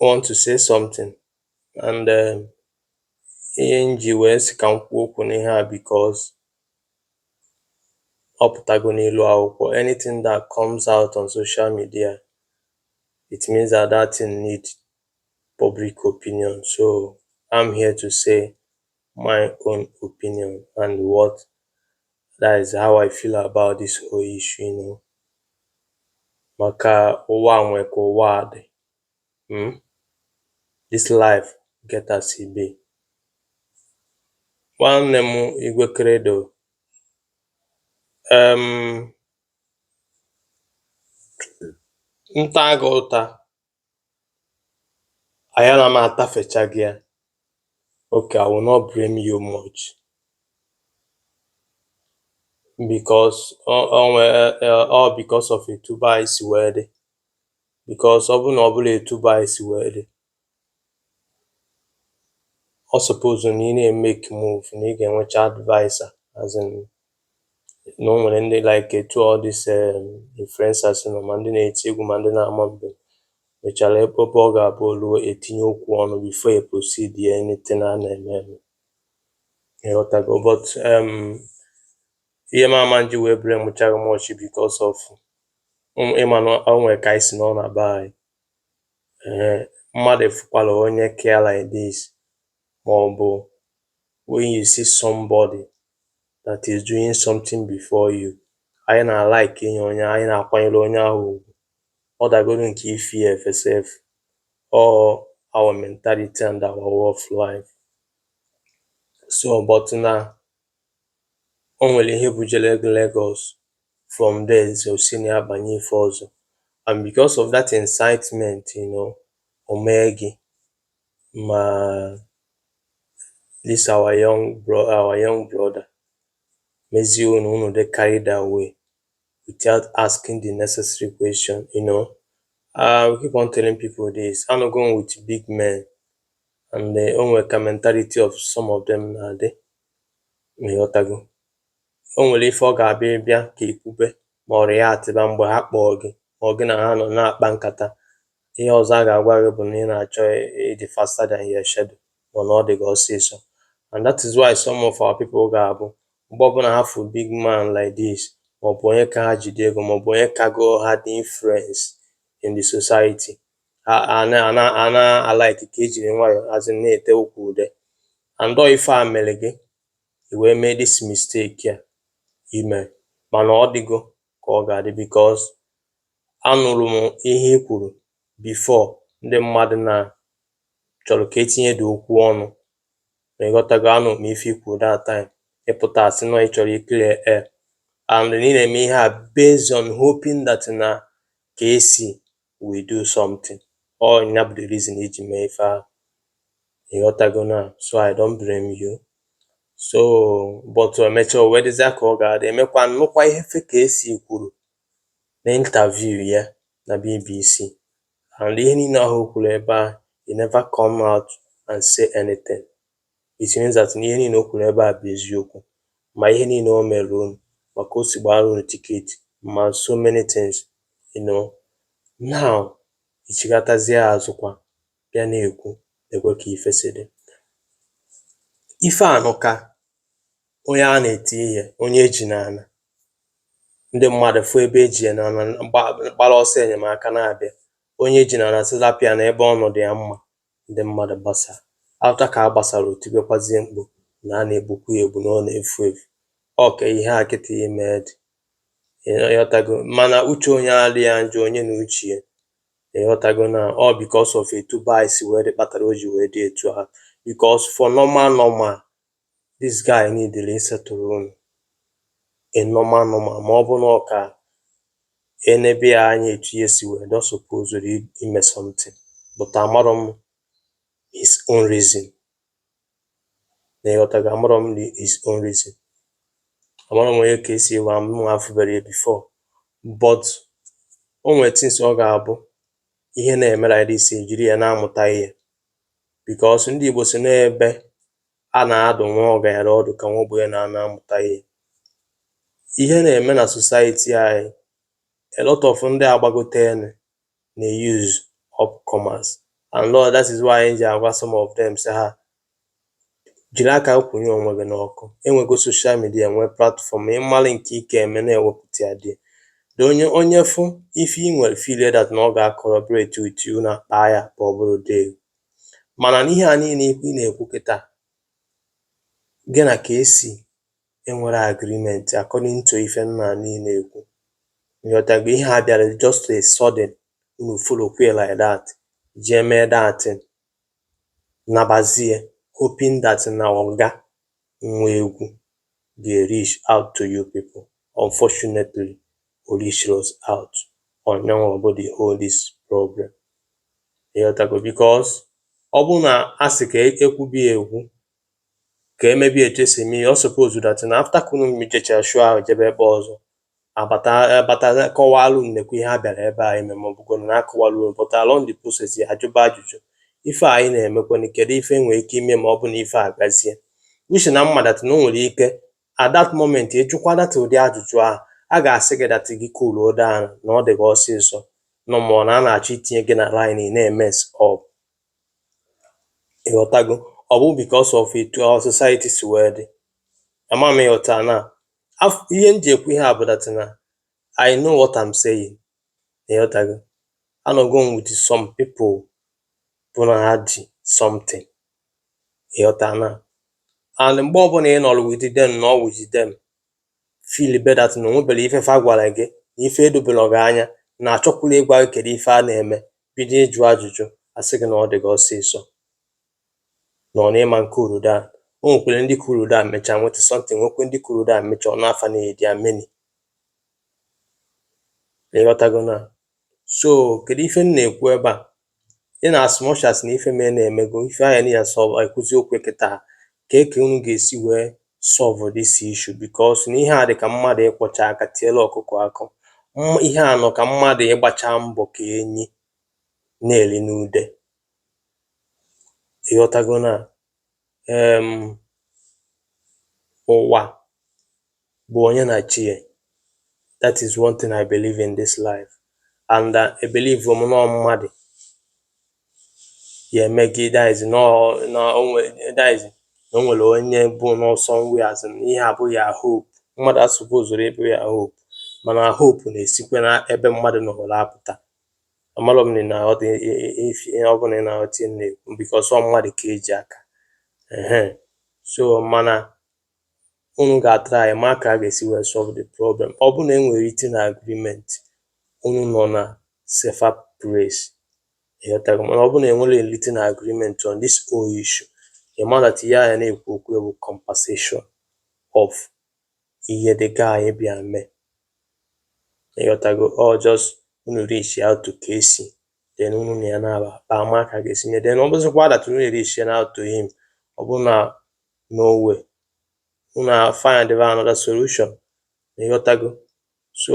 want to say something and um, ihe m ji wee sị ka m kwuo okwu n'ihe a because ọ pụtago n'elu akwụkwọ anything that comes out on social media it means that that thing need public opinion so I'm here to say my own opinion and what that is how I feel about this whole issue you know maka ụwa nwe ka ụwa a dị hmm? this life get as e be nwanne m Igwe Credo um, m taa gị ụta ayala m atafecha gị ya okay i will not blame you much because ọ ọ nwee ọ because of etu be anyị si wee dị because ọ bụ na ọ bụla etu be anyị si wee dị ọ suppose na ị na-emake move na ị ga-enwecha adviser as in na o nwere ndị like etu ọ dị se um, influencers nọ ma ndị na-eti egwu ma ndị na-ama mbem mechara ebe ebe ọ ga-abụ o luo etinye okwu ọnụ before e proceed ya anything a na-eme eme ịghọtago but um, ihe m ama nji wee blame-ụcha gị much because of m- ịma na o nwere ka anyị si nọ na be anyị Ee, mmadụ fụkwara onye ka ya like this maọbụ when you see somebody that is doing something before you, anyị na-alike inye onye anyị na-akwanyere onye ahụ ugwu ọ dagodu nke ife ya efe sef ọ our mentality and our way of life so but na o nwere ihe bujere gị Lagos from there so o si na ya banye ife ọzọ and because of that incitement you know o mee gị ma this our young bro our young brother mezie unu unu dị carried away without asking the necessary question you know uh, we keep on telling people this anọgo m with big men and uh, o nwere ka mentality of some of them na-adị ịghọtago O nwere ife ọ ga-abụ ị bịa ka i kwube ma ọrịa ya atịba mgbe ha kpọọ gị ma ọ gị na ha nọ na-akpa nkata. Ihe ọzọ a ga-agwa gị bụ na ị na-achọ ịdị faster than your shadow ma na ọ dị gị ọsịsọ. And that is why some of our people ga-abụ mgbe ọbụla ha fụ big man like this maọbụ onye ka ha jide ego maọbụ onye kago ha dị influence in the society ha a na- a na- a na-alike ka ejiri nwayọọ azị na-ete okwu ude and ọ ife a mere gị i wee mee this mistake a i mere mana ọ dịgo ka ọ ga-adị because anụrụ m ihe i kwuru before ndị mmadụ na chọrọ ka etinye dị okwu ọnụ ma ịghọtago anụrụ m ife i kwuru that time ị pụta asị na ị chọrọ iclear air and ị na-eme ihe a based on hoping that na Kcee we do something ọ ya bụ the reason i ji mee ife ahụ ị ghọtago na so I don't blame you so but emecha o wee dịzịa ka ọ ga-adị emekwa m nụkwa ihe ife Kcee kwuru na interview ya na BBC and ihe niile ahụ o kwuru ebe a you never come out and say anything It means that na ihe niile o kwuru ebe a bụ eziokwu ma ihe niile o mere unu ma ka o si gbara unu ticket ma so many things you know now i chighatazie azụ kwa bịa na-ekwu ọ dịkwa ka ife si dị ife anụ ka onye a na-eti ihe onye eji n'ala ndị mmadụ fụ ebe eji ya n'ala gbara ọsọ enyemaka na-abịa onye eji n'ala sị rapụ ya na ebe ọ nọ dị ya mma ndị mmadụ gbasaa. After ka a gbasara o tibekwazie mkpu na a na-egbukwa ya egbu na ọ na-efu efu. Ọ ka ihe a kịta ị me dị. Ị ghọtago? Mana uche onye adịghị ya njọ onye na uche ya. Ị ghọtago na ọ because of etu be anyị si wee dị kpatara o ji wee dị etu ahụ. Because for normal normal, this guy nidiri ị-settle unu normal normal ma ọ bụ na ọ ka enebe ya anya etu ihe si wee dị ọ supozuru ime something but amarọ m his own reason na ị ghọtago amarọ m the- his own reason amarọ m onye Kcee bụ mụwa afụberọ ya before but o nwere things ọ ga-abụ ihe na-emere anyị isi ejiri ya na-amụta ihe because ndị Igbo sị na ebe a na-adụ nwa ọgaranya ọdụ ka nwa ogbenye na-anọ amụta ihe. Ihe na-eme na society anyị, a lot of ndị agbagotenu na-use upcomers a lot that is why anyị ji agwa some of them sị ha jiri aka gị kwụnye onwe gị n'ọkụ. E nwego social media, e nwee platform, ị mara nke ị ga-eme na-ewepụta ya there. Then onye onye fụ ife i nwere feel that na ọ ga-collaborate with you, unu akpaa ya akpa ọ bụrụ deal. Mana n'ihe a niile ị na-ekwu kịta, gị na Kcee enwerọ agreement according to ife m na-anụ ị na-ekwu. Ị ghọtago? Ihe a bịara just a sudden, unu follow kwe like that, jee mee that thing, nabazie hoping that na ọ ga nwa egwu dey reach out to you people unfortunately o reachrọzi out ọ nyanwa bụ the whole this problem ị ghọtago because ọ bụrụ na a sị ka e kwube ya ekwu ka e mebe ya etu esi eme ya ọ suppose that na after ka unu jechara show ahụ jebe ebe ọzọ abata abata kọwalụ unu kee ihe a bịara ebe a ime ma ọ bụkwanụ na a kọwalụ unu but along the process ya ajụba ajụjụ ife a anyị na-emekwanụ kedu ife e nwere ike ime ma ọ bụ na ife a gazie uche na ị ma that na o nwere ike at that moment ịjụkwa that ụdị ajụjụ ahụ a ga-asị gị that gị cool down na ọ dị gị ọsịsọ nọ ma ọ na a na-achọ itinye gị na line ị na-emess up ịghọtago ọ bụ because of etu our society si wee dị ama m ịghọta na Af- ihe m ji ekwu ihe a bụ that na i know what i'm saying ịghọtago anọgo m with some people bụ na ha ji something ịghọta na and mgbe ọbụla ị nọrọ with them na ọ with them feel be that na o nwebere ife fa gwara gị na ife edoberọ gị anya na a chọkwula ịgwa gị kedu ife a na-eme bido ịjụ ajụjụ a sị gị na ọ dị gị ọsịsọ nọ n'ịma cool down o nwekwere ndị cool down mechaa nweta something nwekwe ndị cool down mechaa ọnụ afa na edi ameni ịghọtago na so kedu ife m na-ekwu ebe a in as much as na ife mee na-emego ife anyị na ya sọ ekwuzi okwu kịta kee ka unu ga-esi wee solve this issue because na ihe a dị ka mmadụ ịkwọcha aka tielụ ọkụkọ akụ ihe a nọ ka mmadụ ịgbacha mbọ ka enyi na-eri n'ude ịghọtago na um ụwa bụ onye na chi ya that is one thing I believe in this life and uh, I believe m na ọ mmadụ ya eme gị that is na o nwere onye bụ n'ọsọ nwe azụ ihe abụghị ya hope mmadụ asupposerọ ịbụ ya hope mana hope na-esikwa na ebe mmadụ nọrọ apụta amarọ m na ọ dị ife ihe ọ bụ na ị na-aghọta ihe na-ekwu because ọ mmadụ ka e ji aka ehe so mana unu ga-atry ịma ka a ga-esi wee solve the problem ọ bụ na e nwere written agreement unu nọ na safer place ịghọtago mana ọ bụ na e nwere written agreement on this whole issue ị ma that ihe a ya na-ekwu okwu bụ compensation of ihe the guy bịa mee ị ghọtago ọ just unu reach out to Casey then unu na ya na-aba akpa ama ka a ga-esi mee then ọ bụzikwa that unu reach out to him ọ bụ na no way unu find another solution ị ghọtago so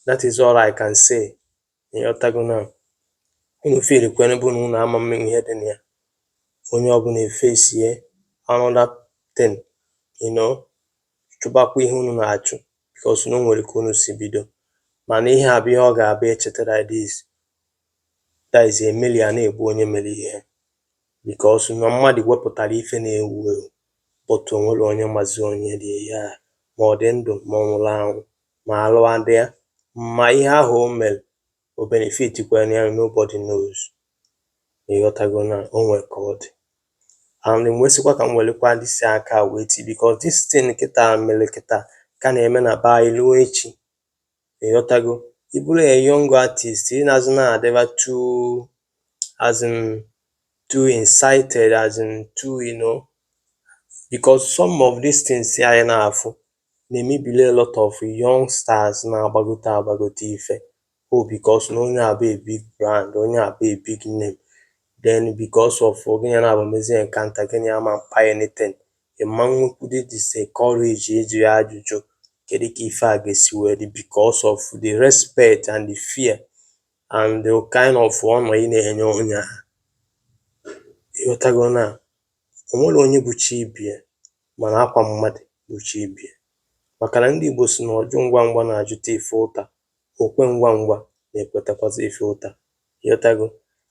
that is all I can say Ịghọtago now? Unu feel kwe n'ebe unu unu ama eme ihe dị na ya. Onye ọbụla efacee another thing, you know, chụbakwa ihe unu na-achụ because na o nwere ka unu si bido. Mana ihe a bụ ihe ọ ga-abụ echetara ya this that is emeli a na-egbu onye mere ihe because na mmadụ wepụtara ife na-ewu ewu but o nwerọ onye mazi onye dị ihe a ma ọ dị ndụ ma ọ nwụrụ anwụ. ma alụa dị ya ma ihe ahụ o mere o benefitikwara ya nobody knows ịghọtago na o nwere ka ọ dị and nwezikwa ka m werekwa disi aka wee ti because this thing kịta mere kịta ka na-eme na be anyị ruo echi ịghọtago ị bụrụ a young artist ị anazịna adịba too as in too incited as in too you know because some of these things anyị na-afụ na-emebili a lot of young stars na-agbagote agbagote ife oh because na onye a bụ a big brand, onye a bụ a big name then because of gị na ya naabọ mezie encounter gị na ya ama akpa anything ị ma nwekwudi the same courage ịjụ ya ajụjụ kedu ka ife a ga-esi wee dị because of the respect and the fear and the kind of honour ị na-enye onye a ịghọtago na O nwerọ onye bụ chi ibe ya mana akwa mmadụ bụ chi ibe ya maka na ndị Igbo sị na ọjụ ngwa ngwa na-ajụta ife ụta, o kwe ngwa ngwa na-ekwetakwazị ife ụta. Ị ghọtago?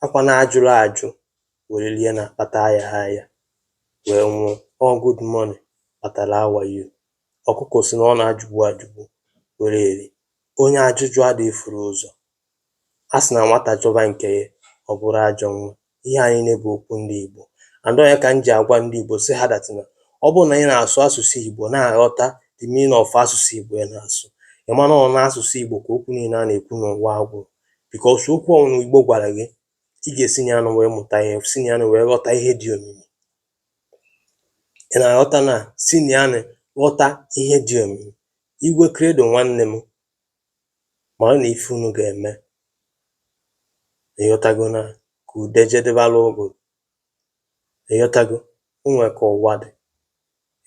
Akwa na ajụrọ ajụ were rie na-akpata ayahọ aya wee nwụọ. Ọ good morning kpatara how are you. Ọkụkọ sị na ọ na-ajụgbu ajụgbu were eri. Onye ajụjụ adịghị efuru ụzọ A sị na nwata chọba nke ya, ọ bụrụ ajọ nwa. Ihe a niile bụ okwu ndị Igbo. And ọ ya ka m ji agwa ndị Igbo sị ha that na ọ bụrụ na ị na-asụ asụsụ Igbo na-aghọta the meaning of asụsụ Igbo ị na-asụ, ị ma na ọ n'asụsụ Igbo ka okwu niile a na-ekwu n'ụwa a gwụrụ. Because okwu ọbụla Igbo gwara gị, ị ga-esi na ya nụ wee mụta ihe, si na ya nụ wee ghọta ihe dị omimi. Ị na-aghọta na si na ya nụ ghọta ihe dị omimi. Igwe Credo nwanne m, Maranụ ife unu ga-eme. Ị ghọtago na ka ude jedebara ụgụrụ? Ị ghọtago? O nwere ka ụwa dị.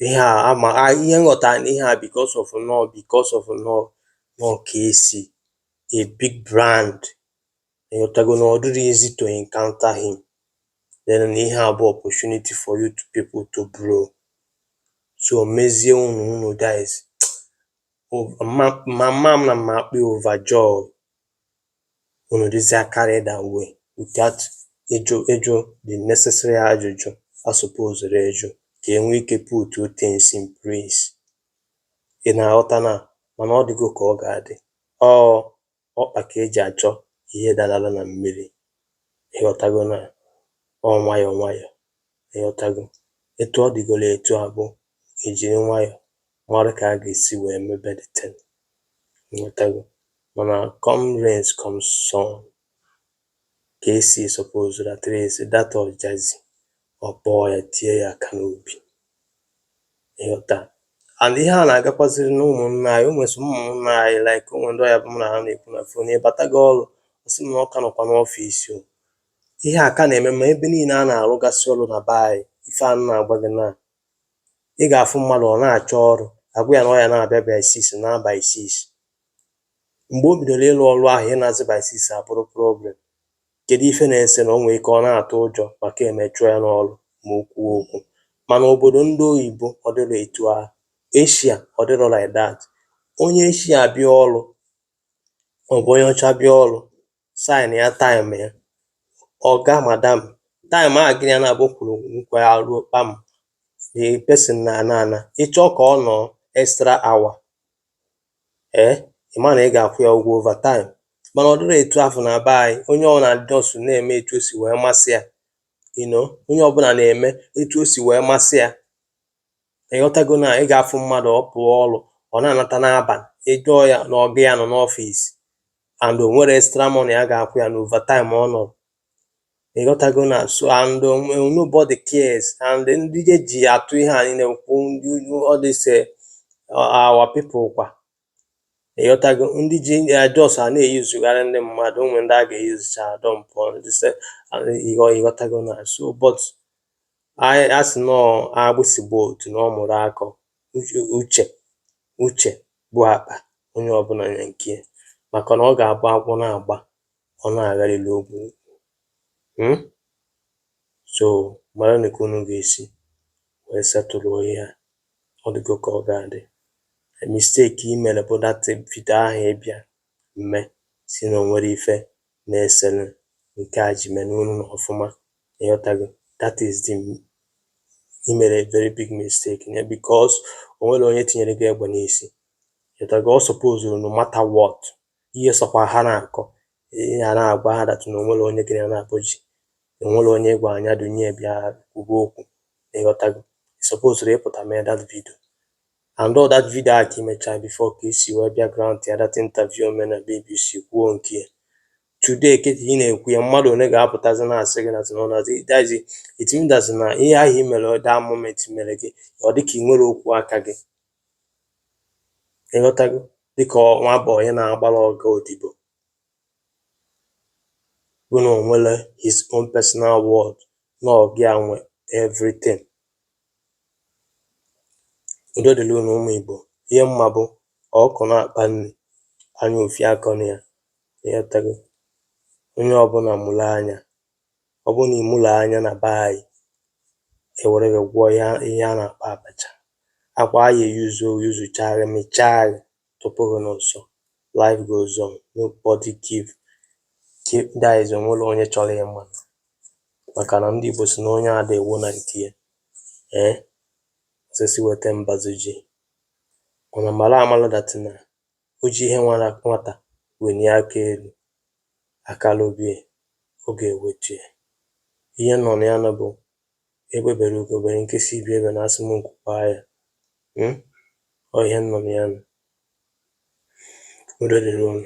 Ihe a ama a ihe m ghọtara na ihe a because of na ọ because of na ọ na ọ Kcee a big brand. Ị ghọtago na ọ dịrọ easy to encounter him. Then na ihe a bụ opportunity for you people to blow. So mezie unu unu guys. mama m na m ma akpọ ya overjoy unu dịzie carried away without ịjụ ịjụ the necessary ajụjụ a supozuru ịjụ ka e nwee ike put things in place ị na-aghọta na mana ọ dịgo ka ọ ga-adị ọ Ọkpa ka e ji achọ ihe darala na mmiri, ịghọtago na ọ nwayọ nwayọ, ịghọtago. Etu ọ dịgoro etu a bụ e jiri nwayọ mara ka a ga-esi wee mebe the thing, ịghọtago. Mana come rains come sun, Kcee sọpozuru trace that Ojazzy ọ kpọọ ya tie ya aka n'obi. Ị ghọta? And ihe a na-agakwaziri n'ụmụnna anyị, o nwere some ụmụnna anyị like o nwere ndị ọ ya-abụ mụ na ha na-ekwu na fon ị batago ọrụ ọ sị m na ọ ka nọkwa n'ọfịs o. Ihe a ka na-eme ma ebe niile a na-arụgasị ọrụ na be anyị, ife a m na-agwa gị na ị ga-afụ mmadụ ọ na-achọ ọrụ, a gwa ya na ọ ya na-abịa by six, naa by six. Mgbe o bidoro ịlụ ọlụ ahụ ịnazi by six abụrụ problem. Kedụ ife na-ese na o nwee ike ọ na-atụ ụjọ maka e mee chụọ ya n'ọlụ ma o kwuo okwu. Mana obodo ndị oyibo ọ dịrọ etu ahụ. Asia ọ dịrọ like that. Onye Asia bịa ọlụ maọbụ onye ọcha bịa ọlụ, sign ya time ya, ọga, madam, time ahụ gị na ya naabọ kwuru nkwa ya ruo kpam, the person na-ana ana. Ị chọọ ka ọ nọọ extra hour, ee ị ma na ị ga-akwụ ya ụgwọ overtime mana ọ dịrọ etu afụ na be anyị onye ọbụla just na-eme etu o si wee masị ya you know onye ọbụla na-eme etu o si wee masị ya ị ghọtago na ị ga-afụ mmadụ ọ pụọ ọrụ ọ na-anata n'abalị ị jụọ ya na ọga ya nọ n'ọfịs and o nwerọ extra money a ga-akwụ ya na overtime ọ nọrọ Ị ghọtago na so and um, nobody cares and ndị e ji atụ ihe anyị na-ekwu ndị ugwu these are our people kwa ị ghọtago ndị ji ya just a na-eyuzugharị ndị mmadụ o nwere ndị a ga-eyuzucha dọmpụ ndị se ị ghọ ị ghọtago na so but anyị a sị na agbụsị gbaa otule ọ mụrụ akọ uche uche uche bụ akpa onye ọbụla nya nke ya. maka na ọ ga-abụ agwọ na-agba ọ na-agharịrị okwu um so maranụ ka unu ga-esi wee setụlụọ ihe a ọ dịgo ka ọ ga-adị the mistake i mere bụ that video ahụ ị bịa mee sị na o nwerọ ife na-esere nke a ji mere unu na ọfụma ị ghọtago that is the i mere a very big mistake na because o nwerọ onye tinyere gị egbe n'isi ị ghọtago ọ sọpozuru no matter what ihe sọkwa ha na-akọ ihe a na-agwa ha that na o nwere onye gịnị na-akpọ ji o nwere onye gwa anya dunye bịa kwugo okwu ị ghọtago supposed ịpụta mee that video and all that video a ka i mechara before ka i si wee bịa grant ya that interview mee na BBC kwuo nke ya today kịta ị na-ekwu ya mmadụ onye ga-apụtazi na-asị gị na tụnọnazi dazi etimdazi na ihe ahụ i mere that moment mere gị ọ dịka i nwerọ okwu aka gị ịghọtago dịkà ọ nwa bọị onye na-agbara ọga odibo bụ nà ò nwere his own personal world nà ọ̀ gị nwe everything udo dịrị unu ụmụ̀ ìgbò ihe m ma bụ ọ̀kụkọ̀ na-àkpa nri anya ufie akọnà ya ịghọtago onye ọbụlà mụrụ anya ọ bụrụ nà ị mụrọ anya nà be anyị è wère gị gwọ ihe ihe a nà-àkpọ àbàchà akwà a yè yuzu o yuzuchàà gị mịchàà gị tụpụ gị nà ụsọ life goes on nobody give give that is o nwerọ onye chọrọ ịma màkà nà ndị Igbo sị nà onye adị èwo nà ǹkè ya ee osisi wète mbazu ji mànà mara amara that nà O ji ihe nwara nwata welie aka elu, aka lobe ya, ọ ga-ewetu ya. Ihe nọ na ya nụ bụ, egbe bere ugo bere nke si ibe ya ebena asị mụ nku kwaa ya. Um Ọ ihe nọ na ya nụ. Udo dịrị unu.